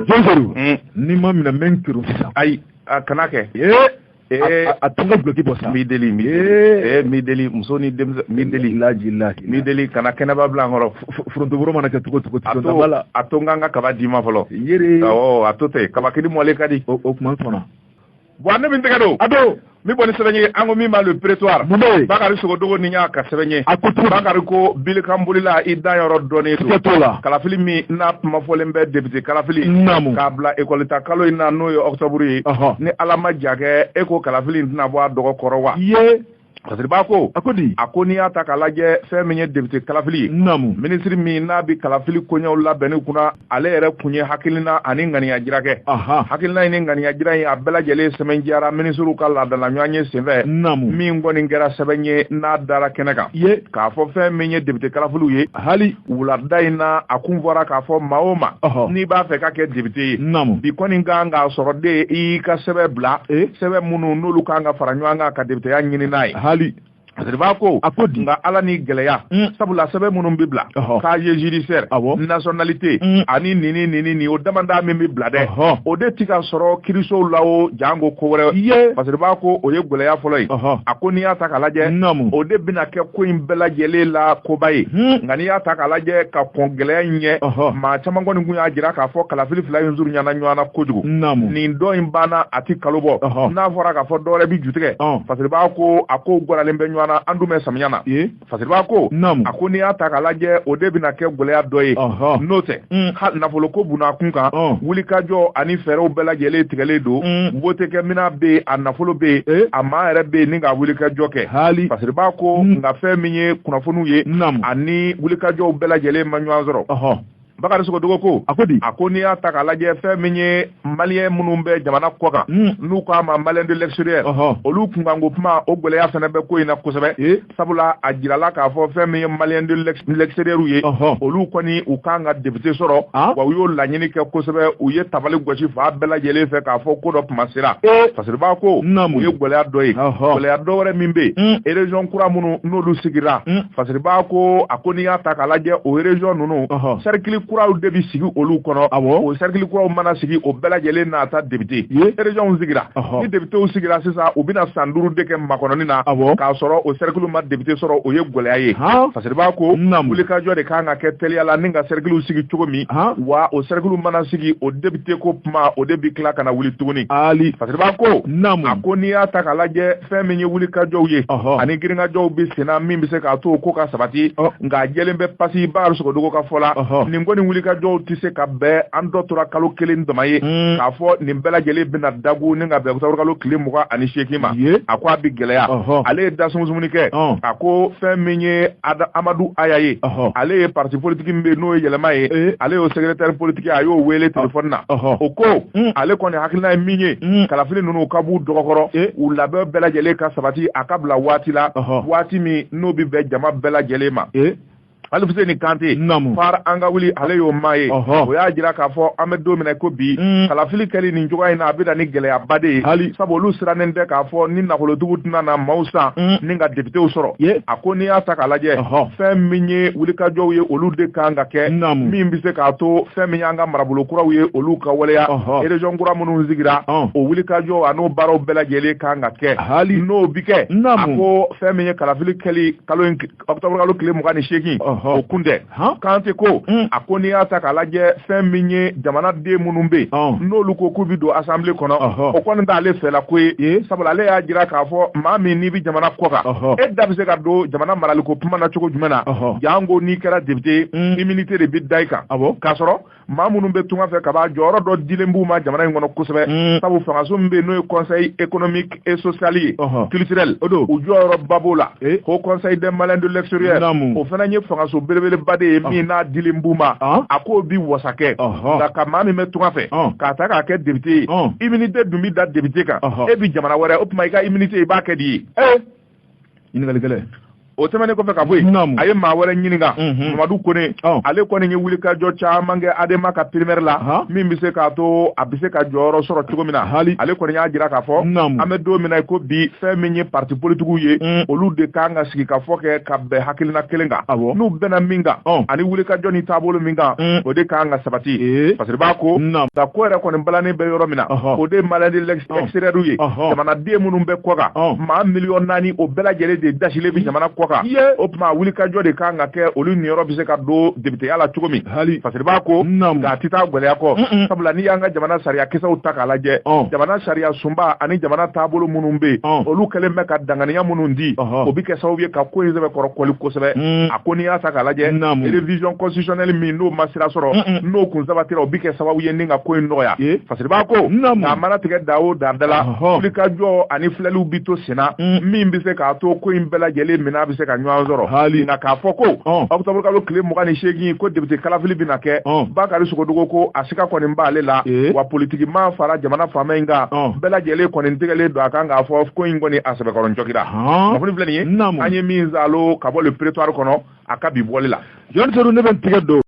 jɔnjɔn hmm. ni ma minɛ mɛ n kiri sisan ayi a kana kɛ ee a to n ka duloki bɔ sa n b'i deli n b'i ee n b'i deli muso ni denmisɛn n b'i deli laji laji n b'i deli kana kɛnɛba bila an kɔrɔ forontoboro mana kɛ cogo cogo cogo la a to n ka n ka kaba d'i ma fɔlɔ yiri awɔ a to ten kabakini mɔlen ka di o tuma sɔnna bon ne min tɛgɛ don a don min bɔ ni sɛbɛn ye an ko min ma le prétoire bakari sogodogo ni y'a ka sɛbɛn ye bakari ko bilikan bolila i danyɔrɔ dɔnnen don la kalafili min n'a kuma fɔlen bɛ député kalafili k'a bila école ta kalo in na n'o ye octobre ye ni ala ma ja kɛ e ko kalafili in tɛna bɔ a dɔgɔ kɔrɔ wa Fasiriba ko a ko di a ko n'i y'a ta k'a lajɛ fɛn min ye député kalafili ye naamu minisiri min n'a bɛ kalafili koɲɛw labɛnni kunna ale yɛrɛ kun ye hakilina ani ŋaniya jira kɛ hakilina in ni ŋaniya jira in a bɛɛ lajɛlen sɛbɛn diyara minisiriw ka laadala ɲɔgɔnye senfɛ naamu min kɔni kɛra sɛbɛn ye n'a dara kɛnɛ kan ye k'a fɔ fɛn min ye député kalafiliw ye hali wulada in na a kun fɔra k'a fɔ maa o maa n'i b'a fɛ ka kɛ depite ye bi kɔni kan k'a sɔrɔ de i y'i ka sɛbɛn bila eh? sɛbɛn minnu n'olu kan ka fara ɲɔgɔn kan ka depiteya ɲini n'a ye hali Fasiriba ko a ko nka ala ni gɛlɛya mm. sabula sɛbɛn minnu bɛ bila casier judiciaire nationalité mm. ani nini nini nin o damadɔ min bɛ bila dɛ o de ti ka sɔrɔ kirisow la o janko ko wɛrɛ ye fasiriba ko o ye gɛlɛya fɔlɔ ye a ko n'i y'a ta k'a lajɛ o de bɛna kɛ ko in bɛɛ lajɛlen la koba ye hmm. nka n'i y'a ta k'a lajɛ ka kɔn gɛlɛya in ɲɛ maa caman kɔni tun y'a jira k'a fɔ kalafili fila in surunyana ɲɔgɔn na kojugu ni dɔ in banna a ti kalo bɔ n'a fɔra k'a fɔ dɔwɛrɛ bi jutigɛ fasiriba ko a ko gwaralen bɛ ɲɔgɔn na an dun bɛ samiya na fasiriba ko a ko n'i y'a ta k'a lajɛ o de bɛna kɛ gɛlɛya dɔ ye n'o tɛ mm. ha nafolo ko bunna kun kan oh. wulikajɔ ani fɛɛrɛw bɛɛ lajɛlen tigɛlen don mm. wote kɛ minan be a nafolo be yen eh? a maa yɛrɛ be yen ni ka wulikajɔ kɛ hali fasiriba ko mm. nka fɛn min ye kunnafoniw ye ani wulikajɔw bɛɛ lajɛlen ma ɲɔgɔn sɔrɔ uh-huh. bakari sogodogo ko a ko di a ko n'i y'a ta k'a lajɛ fɛn min ye maliyɛn minnu bɛ jamana kɔkan hmm. n'u k'a ma maliyɛn de l'extérieur olu kunkanko kuma o gɛlɛya fana bɛ ko in na kosɛbɛ sabula a jirala k'a fɔ fɛn min ye maliyɛn de l'extérieur ye olu kɔni u kan ka depite sɔrɔ ah. wa u y'o laɲini kɛ kosɛbɛ u ye tabali gosi fan bɛɛ lajɛlen fɛ k'a fɔ ko dɔ tuma sera eh. fasiriba ko o ye gwɛlɛya dɔ ye gwɛlɛya dɔ wɛrɛ min bɛ yen hmm. erezɔn kura minnu n'olu sigira hmm. fasiriba ko a ko n'i y'a ta k'a lajɛ o erezɔn ninnu sɛrikili kuraw de bɛ sigi olu kɔnɔ o sɛrikili kuraw mana sigi o bɛɛ lajɛlen n'a ta depite sigira ni depitew sigira sisan u bɛna san duuru de kɛ makɔnɔni na k'a sɔrɔ o sɛrikili ma depite sɔrɔ o ye gɛlɛya ye fasiriba ko wulikajɔ de kan ka kɛ teliya la ni ka sɛrikiliw sigi cogo min wa o sɛrikili mana sigi o depite ko kuma o de bɛ tila ka na wuli tuguni ali fasiriba ko a ko n'i y'a ta k'a lajɛ fɛn min ye wulikajɔw ye ani girinkajɔw bɛ senna min bɛ se k'a to ko ka sabati nka jɛlen bɛ pasi bakari sogodogo ka fɔ la nin ko ni wulikajɔw tɛ se ka bɛn an tɔ tora kalo kelen dama ye mm. k'a fɔ nin bɛɛ lajɛlen bɛna dagun ni ka bɛn ɔkutɔburukalo tile mugan ani seegin ma a ko a bɛ gɛlɛya ale ye dasumuni kɛ a ko fɛn min ye amadu aya ye ale ye parti politique min bɛ n'o ye yɛlɛma ye eh. ale y'o secrétaire politique a y'o weele telefɔni na o ko mm. ale kɔni hakilina ye min ye mm. kalafili ninnu ka b'u dɔgɔkɔrɔ eh. u labɛn bɛɛ lajɛlen ka sabati a ka bila waati la waati min n'o bɛ bɛn jama bɛɛ lajɛlen ma eh. aliseni kante fare an ka wuli ale y'o maa ye o y'a jira k'a fɔ an bɛ don min na ko bi mm. kalafili kɛli nin cogoya in na a bɛ na ni gɛlɛyaba de ye hali sabu olu sirannen bɛ k'a fɔ ni nafolotigiw tɛna na maaw san mm. ni ka députéw sɔrɔ a ko n'i y'a ta k'a lajɛ fɛn min ye wulikajɔw ye olu de kan ka kɛ min bɛ se k'a to fɛn min y'an ka marabolo kuraw ye olu ka waleya région kura minnu sigira o wulikajɔw an'o baaraw bɛɛ lajɛlen kan ka kɛ hali n'o bɛ kɛ a ko fɛn min ye kalafili kɛli kalo in ɔkutɔburukalo tile mugan ni seegin o kun tɛ kante ko hmm. a ko n'i y'a ta k'a lajɛ fɛn min ye jamanaden minnu bɛ yen n'olu ko k'u bɛ don asanbile kɔnɔ o kɔni t'ale fɛla ko ye sabula ale y'a jira k'a fɔ maa min n'i bɛ jamana kɔ kan e da bɛ se ka don jamana maraliko kuma na cogo jumɛn na janko n'i kɛra député hmm. immunité de bɛ da i kan k'a sɔrɔ maa minnu bɛ tunga fɛ kaban jɔyɔrɔ dɔ dilen b'u ma jamana in kɔnɔ kosɛbɛ mm. sabu fangaso min bɛ n'o ye conseil économique et social ye culturel o don u jɔyɔrɔba b'o la eh? haut conseil des maliens de l'extérieur o fana ye fangaso belebeleba de ye min n'a dilen b'u ma a k'o bi wasa kɛ nka ka maa min bɛ tunga fɛ k'a ta k'a kɛ député ye immunité dun bi da député kan e bi jamana wɛrɛ o tuma i ka immunité i b'a kɛ di ye eh? ɲininkali gɛlɛn o tɛmɛnen kɔfɛ ka bɔ yen a ye maa wɛrɛ ɲininka mhm. mamadu kone ale kɔni ye wulikajɔ caman kɛ adema ka primaire la min bɛ se k'a to a bɛ se ka jɔyɔrɔ sɔrɔ cogo min na hali ale kɔni y'a jira k'a fɔ an bɛ don min na ko bi fɛn min ye parti politikiw ye mm. olu de kan ka sigi ka fɔ kɛ ka bɛn hakilina kelen kan n'u bɛnna min kan ani wulikajɔ ni taabolo min kan mm. o de kan ka sabati fasiriba ko nka ko yɛrɛ kɔni balannen bɛ yɔrɔ min na o de ye maliens de extérieur ye jamanaden minnu bɛ kɔkan maa miliyɔn naani o bɛɛ lajɛlen de dasilen bɛ jamana kɔkan o tuma wulikajɔ de kan ka kɛ olu niyɔrɔ bɛ se ka don députéya la cogo min hali fasiriba ko nk'a tɛ taa gɛlɛya kɔ sabula n'i y'an ka jamana sariya kisɛw ta k'a lajɛ jamana sariya sunba ani jamana taabolo minnu bɛ olu kɛlen bɛ ka danganiya minnu di o bɛ kɛ sababu ye ka ko in sɛbɛkɔrɔ kɔli kosɛbɛ a ko n'i y'a ta k'a lajɛ révision constitutionnelle min n'o ma sira sɔrɔ n'o kun sabatira o bɛ kɛ sababu ye ka ko in nɔgɔya siriba ko a mana tigɛ da o da la wulikajɔ ani filɛliw bi to senna mm. min bɛ se k'a to ko in bɛɛ lajɛlen minɛ a bɛ se ka ɲɔgɔn sɔrɔ hali nka k'a fɔ ko ɔkutɔburukalo tile mugan ni seegin ko député kalafili bɛna kɛ bakari sogodogo ko a sika kɔni b'ale la eh. wa politikimaa fara jamana faama in kan bɛɛ lajɛlen kɔni tigɛlen don a kan k'a fɔ ko in kɔni a sɛbɛkɔrɔ jɔgira kunnafoni filɛ nin ye an ye min zalo ka bɔ le prétoire kɔnɔ a ka bi bɔli la jɔn ne bɛ tigɛ don